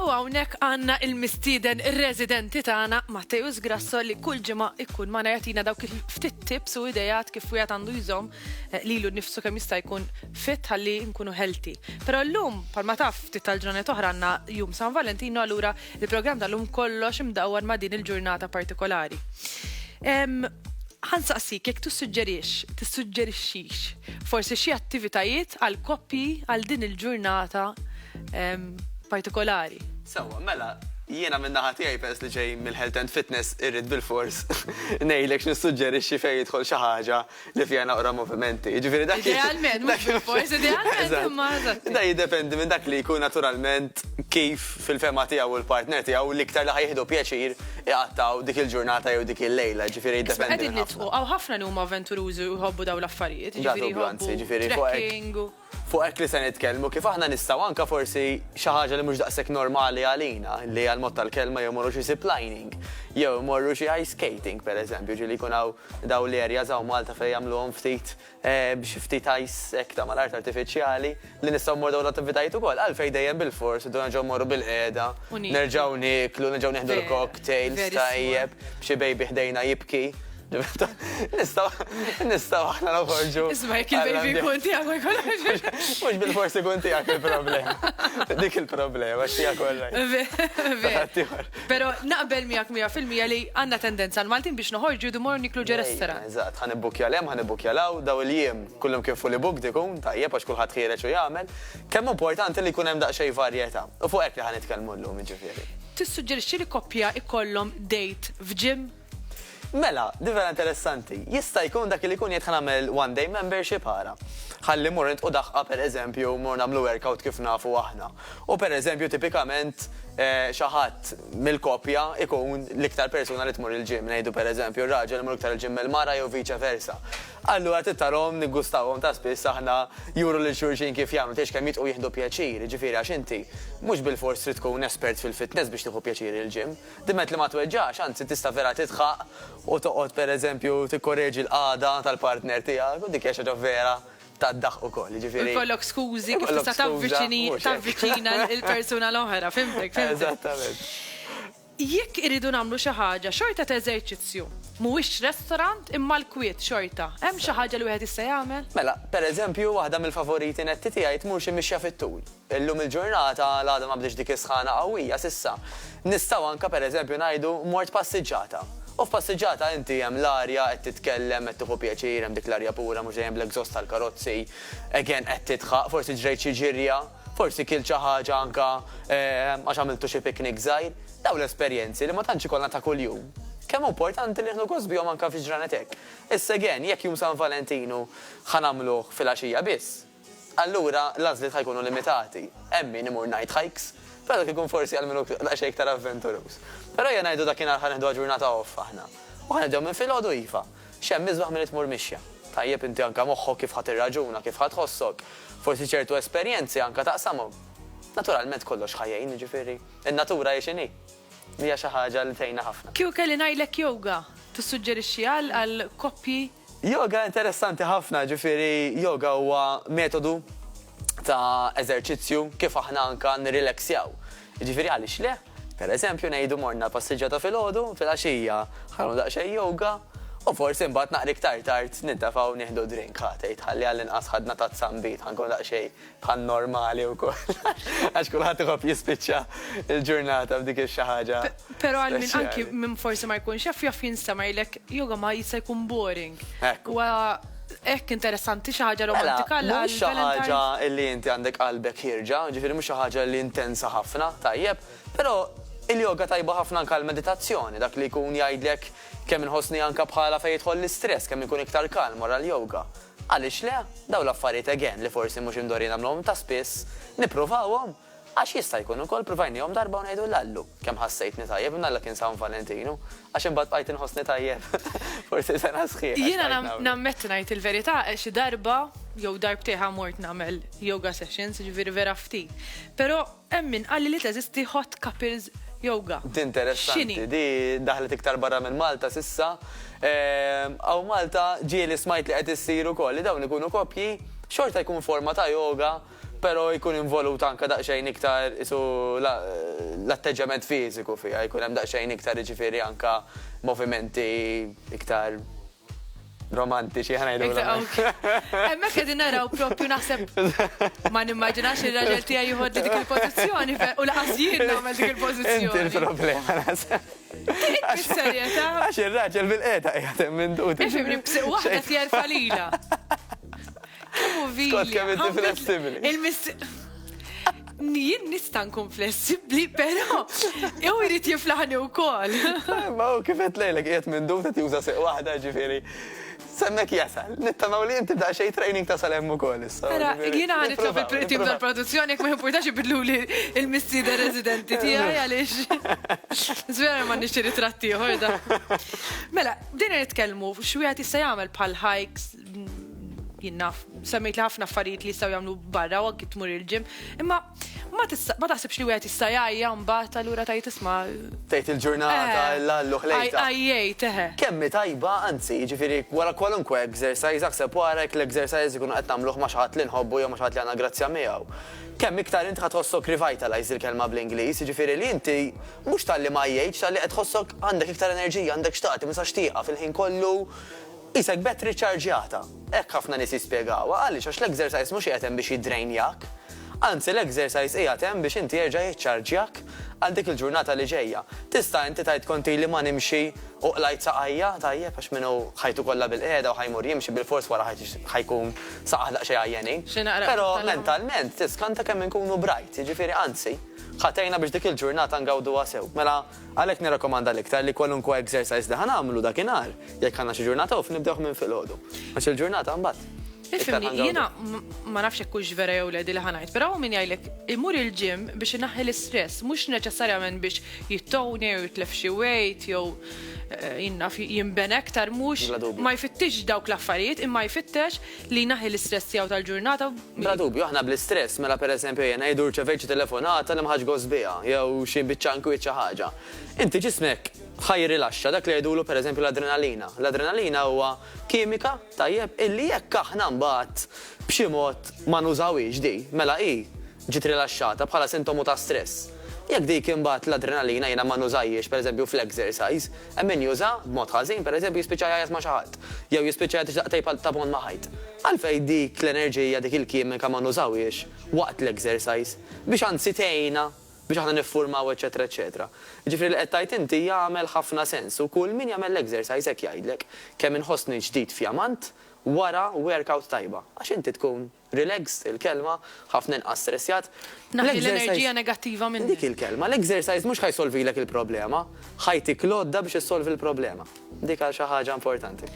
U hawnhekk għandna il-mistieden ir-residenti tagħna Matteus Grasso li kull ġimgħa ikkun ma jagħtina dawk il-ftit tips u idejat kif wieħed għandu jżomm eh, lilu nnifsu kemm jista' jkun fit ħalli nkunu healthy. Però llum palma taf ftit tal-ġranet oħra għandna jum San Valentino allura il-programm tal-lum kollox imdawwar ma' din il-ġurnata partikolari. Ħa nsaqsik jekk tissuġġerix, tissuġġerixxix, forsi xi attivitajiet għal koppji għal din il-ġurnata partikolari. Sewwa, mela, jiena min-naħa tiegħi peress li ġej mill-Health and Fitness irrid bilfors ngħidlek x'nissuġġerixxi fejn jidħol xi ħaġa li fiha naqra movimenti. Jiġifieri dak Idealment, mhux bilfors, idealment imma eżatt. Da jiddependi minn dak li jkun naturalment kif fil-fehma tiegħu u l-partner tiegħu l-iktar li ħa jieħdu pjaċir iqattgħu dik il-ġurnata jew dik il-lejla, ġifieri jiddependi. Qegħdin nidħku, hawn ħafna li huma avventurużi u jħobbu dawn l-affarijiet, ġifieri jħobbu trekking u. Fuq hekk li se nitkellmu, kif aħna nistgħu anke forsi xi ħaġa li mhux daqshekk normali għalina, li hija l-mod tal-kelma jew imorru xi ziplining, jew imorru xi ice skating pereżempju, ġieli jkun hawn dawn l-areas hawn Malta fejn jagħmluhom ftit b'xi ftit ice hekk ta' mal-art artifiċjali, li nistgħu mmorru dawn l-attivitajiet ukoll. Għalfejn dejjem bil-fors irdu nerġgħu mmorru bil-qiegħda, nerġgħu nieklu, nerġgħu nieħdu l-cocktails tajjeb, b'xi baby ħdejna jibki. Nistgħu nistgħu aħna noħorġu. Isma' jekk il-baby jkun tiegħek ma jkunx. Mhux bil-fors ikun tiegħek il-problema. Dik il-problema x'hija kollha. Pero naqbel miegħek mija fil-mija li għandna tendenza l-Maltin biex noħorġu du mor niklu ġo restaurant. Eżatt, ħa nibbukkja 'l hemm, ħa nibbukkja 'l hawn, daw il-jiem kullhom kien fully booked ikun, tajjeb għax kulħadd ħiereġ u jagħmel. Kemm hu importanti li jkun hemm daqsxejn varjetà. U fuq hekk li ħa nitkellmu llum jiġifieri. Tissuġġerixxi li koppja jkollhom date f'gym? Mela, din vera interessanti. Jista' jkun dak li jkun jgħid ħa nagħmel one day membership ara. Ħalli mmur nitqu daħqa pereżempju mmur nagħmlu workout kif nafu aħna. U pereżempju tipikament xi ħadd mill-koppja jkun l-iktar persuna li tmur il-gym, ngħidu pereżempju r-raġel imur iktar il-gym mill-mara jew vice versa. Allura trid tarahom niggustawhom ta' spiss aħna juru lil xulxin kif jagħmlu, tgħidx kemm jitqu jieħdu pjaċir, jiġifieri għax inti mhux bilfors trid tkun espert fil-fitness biex tieħu pjaċir il-gym. Dimgħet li ma tweġġax, anzi tista' vera tidħaq u toqgħod per eżempju tikkoreġi l-qagħda tal-partner tiegħek u dik hija xi ħaġa vera tad-daħq ukoll, jiġifieri. U jkollok skużi kif tista' tavviċini, tavviċina l-persuna l-oħra, fhimtek, fhimtek. Eżattament. Jekk irridu nagħmlu xi ħaġa, xorta t'eżerċizzju. Mhuwiex restorant imma l-kwiet xorta. Hemm xi ħaġa li wieħed jista' jagħmel? Mela, per eżempju waħda mill-favoriti netti tiegħi tmur xi mixja fit-tul. Illum il-ġurnata l-għada ma bdietx dik is-sħana qawwija s'issa. Nistgħu anke per eżempju ngħidu mort passiġġata. U f'passiġġata inti hemm l-arja, qed titkellem, qed tieħu pjaċir, hemm dik l-arja pura mhux dejjem bl-exhaust tal-karozzi, again qed tidħaq, forsi ġrejt xi ġirja, forsi kilt xi ħaġa anke għax għamiltu xi picnic żgħir. Dawn l-esperjenzi li ma tantx ikollna ta' kuljum, kemm hu importanti nieħdu gost bihom anke fi ġranet hekk. Issa again, jekk jum San Valentinu ħa nagħmluh fil-għaxija biss, Allura l-għażliet ħa jkunu limitati. Hemm min imur night hikes, però dak ikun forsi għal min hu daqsxejn iktar avventuruż. Però ejja ngħidu dakinhar ħa neħduha ġurnata off aħna. U ħa nibdew minn filgħodu iva. X'hemm isbaħ milli tmur mixja. Tajjeb inti anke moħħok kif ħa tirraġuna, kif ħa tħossok. Forsi ċertu esperjenzi anke taqsamhom. Naturalment kollox ħa jgħin, jiġifieri n-natura hi x'inhi. Hija xi ħaġa li tgħinna ħafna. Kieku kelli ngħidlek yoga, tissuġġerixxiha għal koppji? Yoga interessanti ħafna, ġifieri yoga huwa metodu ta' eżerċizzju kif aħna anka nirrileksjaw. Jiġifieri għaliex le? Per eżempju ngħidu morna passiġġata filgħodu, filgħaxija ħanagħmlu daqsxejn yoga u forsi mbagħad naqra iktar tard nintefgħu nieħdu drink, ħa tgħid ħalli għallinqas ħadna tazza nbid ħa nkunu daqsxejn bħal normali wkoll għax kulħadd iħobb jispiċċa l-ġurnata b'dik ix-xi ħaġa. Però għal min anki min forsi ma jkunx jaf jaf jinstema' jgħidlek jew ma jista' jkun boring. Huwa hekk interessanti xi ħaġa romantika għal Valentine's. Mhux xi ħaġa li inti għandek qalbek ħierġa, ġifieri mhux xi ħaġa li intensa ħafna, tajjeb, però il-yoga tajba ħafna anke għall-meditazzjoni, dak li jkun jgħidlek kemm inħossni anke bħala fejn jidħol l-istress, kemm inkun iktar kalm wara l-yoga. Għaliex le? Dawn l-affarijiet again li forsi mhux imdorrijin nagħmluhom ta' spiss, nippruvawhom? Għax jista' jkun ukoll pruvajnihom darba u ngħidu l-Allu, kemm ħassejtni tajjeb, imnalla kien San Valentinu, għax imbagħad bqajt inħossni tajjeb forsi sena sħiħa. Jiena nammetti ngħid il-verità, xi darba jew darbtejn mort nagħmel yoga sessions, jiġifieri vera ftit. Però Hemm min qalli li teżisti Hot Couples Yoga. X'inhi? Interessanti, di daħlet iktar barra minn Malta s'issa. Hawn Malta ġieli smajt li qed issir ukoll li dawn ikunu koppji, xorta jkun forma ta' yoga pero jkun involut anka daqsxejn iktar qisu l-atteġġjament fiżiku fiha, jkun hemm daqsxejn iktar jiġifieri anka movimenti iktar, romantiċi ħana Hemmhekk qegħdin naraw propju naħseb ma nimmaġinax il raġel tija jieħod dik il pozizjoni u laqas jien nagħmel dik il pozizjoni Inti l-problema naħseb. Għax il raġel bil qeda qiegħed hemm minn dut. Ifimni b'siq waħda tjerfa lilha. Kemm hu vili. Il-misti. Jien nista' nkun flessibbli, però jew irid jiflaħni wkoll. Ma hu kif qed lejlek qiegħed minn dum qed juża seq waħda ġifieri. Semmek jasal, nittamaw li inti da xej training ta' salem ukoll issa. Ara, jiena ħan nitlob il-tim tal-produzzjoni jekk ma jimpurtax ibidlu li l-missieda residenti tiegħi għaliex. Żvera ma nixtieq ritratti ieħor da. Mela, bdejna nitkellmu x'wieħed jista' jagħmel bħal hikes, jien naf, semmejt li ħafna affarijiet li jistgħu jagħmlu barra u anki tmur il-ġim, imma ma taħsibx li wieħed jista' jgħajja mbagħad allura tajt isma' Tgħid il-ġurnata eh, l-allu ħlejta. Għajjej teħe. Eh. Kemmi tajba, anzi, jiġifieri wara kwalunkwe exercise aħseb warek l-exercise ikunu qed nagħmluh ma' xaħat li nħobbu jew ma' xaħat li għandna grazzja miegħu. Kemm iktar int ħad tħossok revitalize il-kelma bl-Ingliż, jiġifieri li inti mhux tal-li ma jgħidx tal-li qed tħossok għandek iktar enerġija, għandek xtaqti, ma sax fil-ħin kollu Qisek battery ċċarġjata. Hekk ħafna nies jispjegawha. Għaliex? Għax l-exercise mhux qiegħed hemm biex jiddrainjak. Anzi, l-exercise qiegħed hemm biex inti jerġa' jiċċarġjak għal dik il-ġurnata li ġejja. Tista' inti tgħid kont ili ma nimxi u qlajt saqajja? Tajjeb, għax min hu ħajtu kollha bil-qiegħda u ħa jmur jimxi bilfors wara ħajt ħa jkun saqajh daqsxejn għajjenin. Però mentalment tiskanta kemm inkunu bright, jiġifieri anzi, ħa tgħinna biex dik il-ġurnata ngawduha sew. Mela, Għalhekk nirrakkomanda l-iktar li kwalunkwe exercise li ħa nagħmlu dakinhar, jekk għandna xi ġurnata off, nibdewh minn filgħodu. Għax il-ġurnata mbagħad. Ifhimni, jiena ma nafx jekk hux vera jew le li ħa ngħid, però hawn min jgħidlek imur il-gym biex inaħħi l-istress, mhux neċessarjament biex jittowni jew jitlef xi weight jew eh, jinnaf jinben aktar mhux ma jfittix dawk l-affarijiet imma jfittex Li jnaħħi l-istress tiegħu tal-ġurnata. Bla dubju, aħna bl-istress, mela pereżempju ejja ngħidu rċevejt xi telefonata li ma ħadtx gost biha, jew xi biċċa inkwiet xi ħaġa. Inti ġismek ħa jirrilaxxa dak li jgħidulu pereżempju l-adrenalina. L-adrenalina huwa kimika, tajjeb, illi jekk aħna mbagħad b'xi mod ma nużawhiex din, mela hi Ġiet rilaxxata bħala sintomu ta' stress. Jekk dik imbagħad l-adrenalina jiena ma nużajhiex pereżempju fl-exercise, hemm min juża b'mod ħażin, pereżempju jispiċċa jgħajjat ma' xi ħadd, jew jispiċċa jgħid ixtaqt tgħid ta' bond ma' ħajt. Għalfejn dik l-enerġija, dik il-kimika ma nużawhiex waqt l-exercise, biex anzi tgħinna biex aħna niffurmaw eċċetera eċċetera. Jiġifieri li qed tgħid inti jagħmel ħafna sens u kull min jagħmel l-exercise hekk jgħidlek, kemm inħossni ġdid fjamant wara workout tajba, għax inti tkun. Relaxed, il-kelma, ħafna inqas stressjat. Tnaħħi l-enerġija negattiva minnek. Dik il-kelma, l-exercise mhux ħa jsolvilek il-problema, ħa jtik l-għodda biex issolvi l-problema. Dik għal xi ħaġa importanti.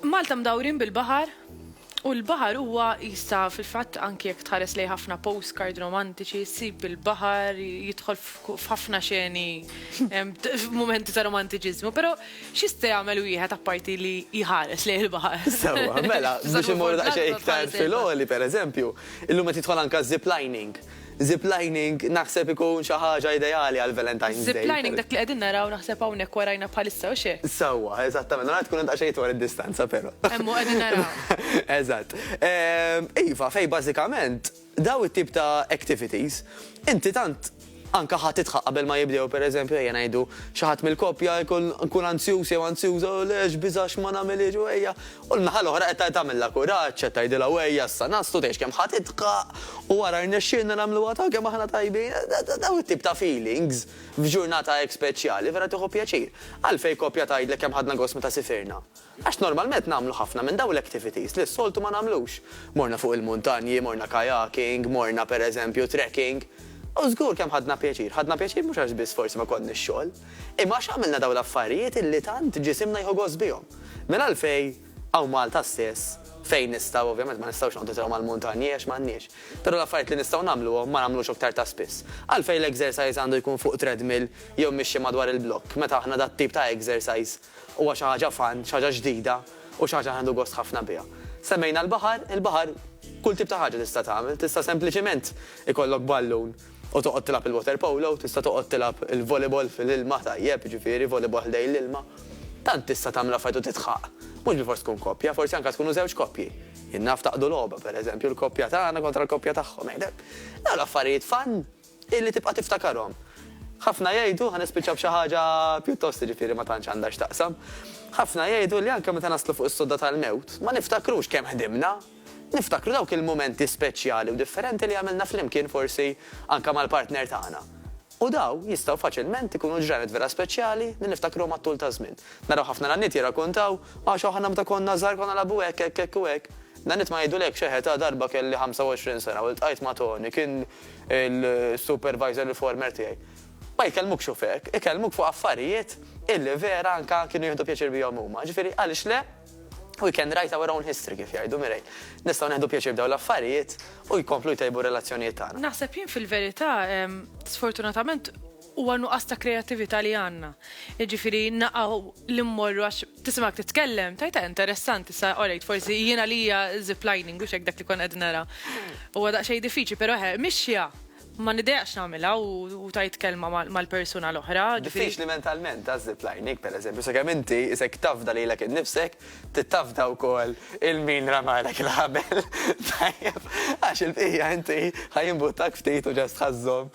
Malta mdawrin bil-baħar, u l-baħar huwa jista' fil-fatt anki jekk tħares lejn ħafna postcard romantiċi, ssib il-baħar jidħol f'ħafna xeni f'mumenti ta' romantiċiżmu, però X'jista' jagħmel wieħed apparti li jħares lejn il-baħar? Sewwa, mela, biex immorru daqsxejn iktar fil-għoli, pereżempju, illum qed jidħol anke z-ziplining. Ziplining naħseb ikun xi ħaġa ideali għall-Valentine's Day. Ziplining dak li qegħdin naraw naħseb hawnhekk warajna bħalissa, hux hekk? Sewwa, eżattament, naraw tkun hemm daqsxejn itwal id-distanza però. Hemm hu qegħdin naraw. Eżatt. Iva, fejn bażikament, Dawn it-tip ta' activities, inti tant anke ħa tidħaq qabel ma jibdew, per eżempju, ejja ngħidu, xi ħadd mill-koppja jkun nkun anzjuż jew anzjuża, u le x'biża' x'ma nagħmilhiex u ejja, u l-naħa l-oħra qed tagħmilha kuraġġ, qed tgħidilha u ejja issa naslu tgħix kemm ħa tidħaq u ara rnexxielna nagħmluha ta' kemm aħna tajbin, dawn it-tip ta' feelings f'ġurnata hekk speċjali vera tieħu pjaċir. Għalfejn koppja tgħidlek kemm ħadna gost meta sifirna? Għax normalment nagħmlu ħafna minn dawn l-activities li s-soltu ma nagħmlux. Morna fuq il-muntanji, morna kayaking, morna per eżempju trekking. U żgur kemm ħadna pjaċir. Ħadna pjaċir mhux għax biss forsi ma konniex xogħol, imma għax għamilna dawn l-affarijiet li tant ġisimna jieħu gost bihom. Mela għalfejn hawn Malta stess, fejn nistgħu, ovvjament ma nistgħux noqogħdu sew mal-muntanji għax m'għandniex, però l-affarijiet li nistgħu nagħmluhom ma nagħmlux aktar ta' spiss? Għalfejn l-exercise għandu jkun fuq treadmill jew mixja madwar il-blokk meta aħna dat-tip ta' exercise Huwa xi ħaġa fun, xi ħaġa ġdida u xi ħaġa li nieħdu gost ħafna biha. Semmejna l-baħar, il-baħar kull tip ta' ħaġa tista' tagħmel, tista' sempliċiment ikollok ballun u toqgħod tilgħab il-water polo, tista' toqgħod tilgħab il-volleyball fil-ilma tajjeb, jiġifieri volleyball ħdejn l-ilma. Tant tista' tagħmel affarijiet u titħaq. Mhux bilfors tkun koppja, forsi anke tkunu żewġ koppji. Jien naf taqdu logħba, pereżempju, l-koppja tagħna kontra l-koppja tagħhom. Dawn l-affarijiet fun Illi tibqa' tiftakarhom. Ħafna jgħidu, ħa nispiċċa b'xi ħaġa pjuttost jiġifieri ma tantx għandha x'taqsam, ħafna jgħidu li anke meta naslu fuq is-sodda tal-mewt, ma niftakrux kemm ħdimna. Niftakru dawk il-mumenti speċjali u differenti li għamilna flimkien forsi anke mal-partner tagħna. U dawn jistgħu faċilment ikunu ġranet vera speċjali li niftakruhom għat-tul taż-żmien. Naraw ħafna nanniet jirrakuntaw, Għax aħna meta konna żgħar konna nilagħbu hekk, hekk, hekk u hekk. Nanniet ma jgħidulekx, Eħe, ta' darba kelli 25 sena u ltqajt ma' Toni, kien il-supervisor il-former tiegħi. Ma jkellmukx u f'hekk, ikellmuk fuq affarijiet illi vera anke kienu jieħdu pjaċir bihom huma. Ġifieri għaliex le? We can write our own history kif jgħidu Mirej. Nistgħu neħdu pjaċir b'dawn l-affarijiet u jkomplu jtejbu r-relazzjonijiet tagħna. Naħseb jien fil-verità, sfortunatament Huwa nuqqas ta' kreattività li għandna. Jiġifieri naqgħu li mmorru għax tisimgħek titkellem, tgħid eh interessanti issa orejt forsi jien għalija ziplining mhux hekk dak li kont qed nara. Huwa daqsxejn diffiċli però eħe mixja ma nidejaqx nagħmilha u tgħid kelma mal-persuna l-oħra. Diffiċli mentalment għaż-ziplining pereżempju sakemm inti isek tafda lilek innifsek Tittafda wkoll il-min ramalek il-ħabel, tajjeb, għax il-bqija inti ħa jimbuttak ftit u ġast ħa żżomm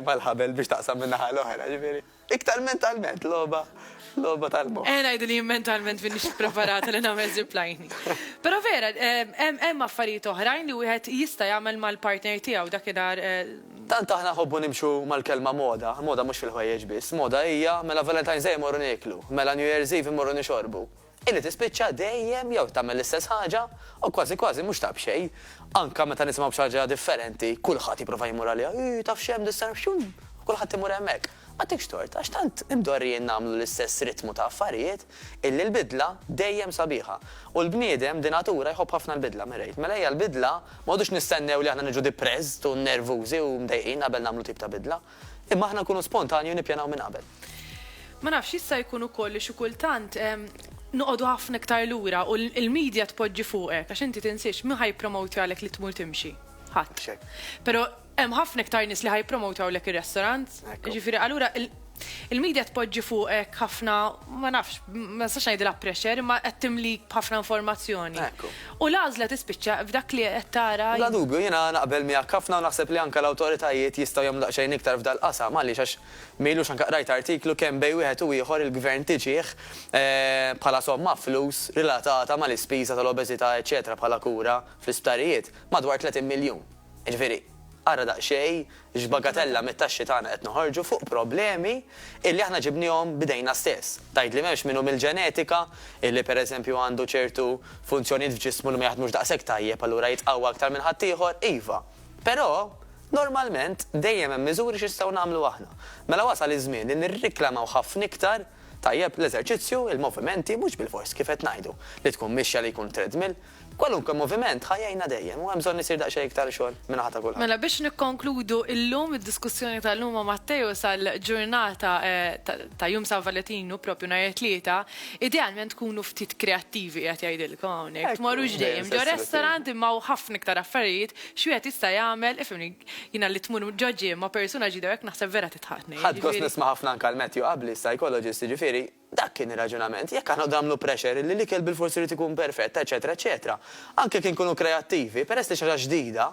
mal-ħabel biex taqsam min-naħa l-oħra, ġifieri. Iktar mentalment, logħba, logħba tal-moħħ. Eħe ngħidu li jien mentalment m'iniex ippreparata li nagħmel zipline. Però vera, hemm affarijiet oħrajn li wieħed jista' jagħmel mal-partner tiegħu, dakinhar Tant aħna nħobbu nimxu mal-kelma moda, moda mhux fil-ħwejjeġ biss, moda hija, mela Valentine's Day immorru nieklu, mela New Year's Eve immorru nixorbu, illi tispiċċa dejjem jew tagħmel l-istess ħaġa u kważi kważi mhux ta' b'xejn, anke meta nisimgħu b'xi ħaġa differenti, kulħadd jipprova jmur għaliha, ii, taf x'hemm dis-sena, xxumm, u kulħadd imur hemmhekk. M'għatikx tort, għax tant imdorrijin nagħmlu l-istess ritmu ta' affarijiet, illi l-bidla dejjem sabiħa. U l-bniedem de natura jħobb ħafna l-bidla, Mairéad. Mela ejja l-bidla, m'għodux nistennew li aħna niġu depressed u nervużi u mdejqin qabel nagħmlu tip ta' bidla. Imma aħna nkunu spontanji u nippjanaw minn qabel. Ma nafx, jista' jkun ukoll li xi kultant noqogħdu ħafna iktar lura u l-media tpoġġi fuqek, għax inti tinsiex, min ħa jippromowtjalek li tmur timxi? Ħadd. Mhux hekk. Però Hemm ħafna iktar nies li ħa jippromotawlek ir-restaurant. Jiġifieri allura il-media tpoġġi fuqek ħafna ma nafx, ma nistax ngħidilha pressure, imma qed timlik b'ħafna informazzjoni. U l-għażla tispiċċa f'dak li qed tara. Bla dubju, jiena naqbel miegħek ħafna u naħseb li anke l-awtoritajiet jistgħu jagħmlu daqsxejn iktar f'dal-qasam għaliex għax ma ilux anke qrajt artiklu kemm bejn wieħed u ieħor il-Gvern tiġih bħala somma flus relatata mal-ispiża tal-obeżità eċċetera bħala kura fl-isptarijiet madwar 30 miljun. Jiġifieri, ara daqsxejn x'bagatella mit-taxxi tagħna qed noħorġu fuq problemi illi aħna ġibniehom b'idejna stess. Tgħidli m'hemmx min hu mill-ġenetika illi pereżempju għandu ċertu funzjonijiet f'ġismu li ma jaħdmux daqshekk tajjeb allura jitqawwa aktar minn ħaddieħor? Iva. Però, normalment, dejjem hemm miżuri x'nistgħu nagħmlu aħna. Mela wasal iż-żmien li nirriklamaw ħafna iktar, tajjeb, l-eżerċizzju, il-movimenti, mhux bilfors, kif qed ngħidu, li tkun mixja li jkun treadmill. Kwalunkwe moviment ħa jgħinna dejjem u hemm bżonn isir daqsxejn iktar xogħol min-naħa ta' kulħadd. Mela biex nikkonkludu illum id-diskussjoni tal-lum ma' Matteo sal-ġurnata ta' jum San Valetinu, propju nhar it-Tlieta, idealment tkunu ftit kreattivi qiegħed jgħidilkom hawnhekk. Tmorrux dejjem ġo restaurant imma hawn ħafna iktar affarijiet x'wieħed jista' jagħmel, ifhimni, jiena li tmur ġo gym ma' persuna ġdida u hekk naħseb vera tidħaqni. Ħadt gost nisma' ħafna anke l-Matthew Abbli, psychologist, jiġifieri, Dak kien ir-raġunament. Jekk aħna qogħdu nagħmlu pressure li l-ikel bilfors irid ikun perfett, eċċetera, eċċetera, anke jekk inkunu kreattivi, peress li xi ħaġa ġdida,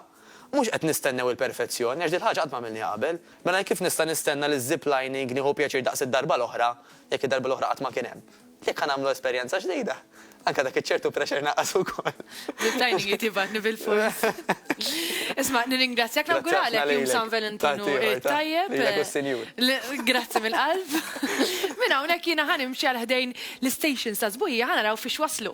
mhux qed nistennew il-perfezzjoni, għax dil-ħaġa qatt ma għamilniha qabel. Mela jekk kif nista' nistenna li z-ziplining nieħu pjaċir daqs id-darba l-oħra, jekk id-darba l-oħra qatt ma kien hemm? Jekk ħa nagħmlu esperjenza ġdida, Anke dak iċ-ċertu pressure naqas ukoll. L-tajning jrid jibgħatni bil-fors. Isma' nirringrazzjak nawguralek jum San Valentinu it-tajjeb. Lilek u s-Sinjur. Grazzi mill-qalb. Minn hawnhekk jiena ħa nimxi għal ħdejn l-istations ta' sbuħija ħa naraw fiex waslu.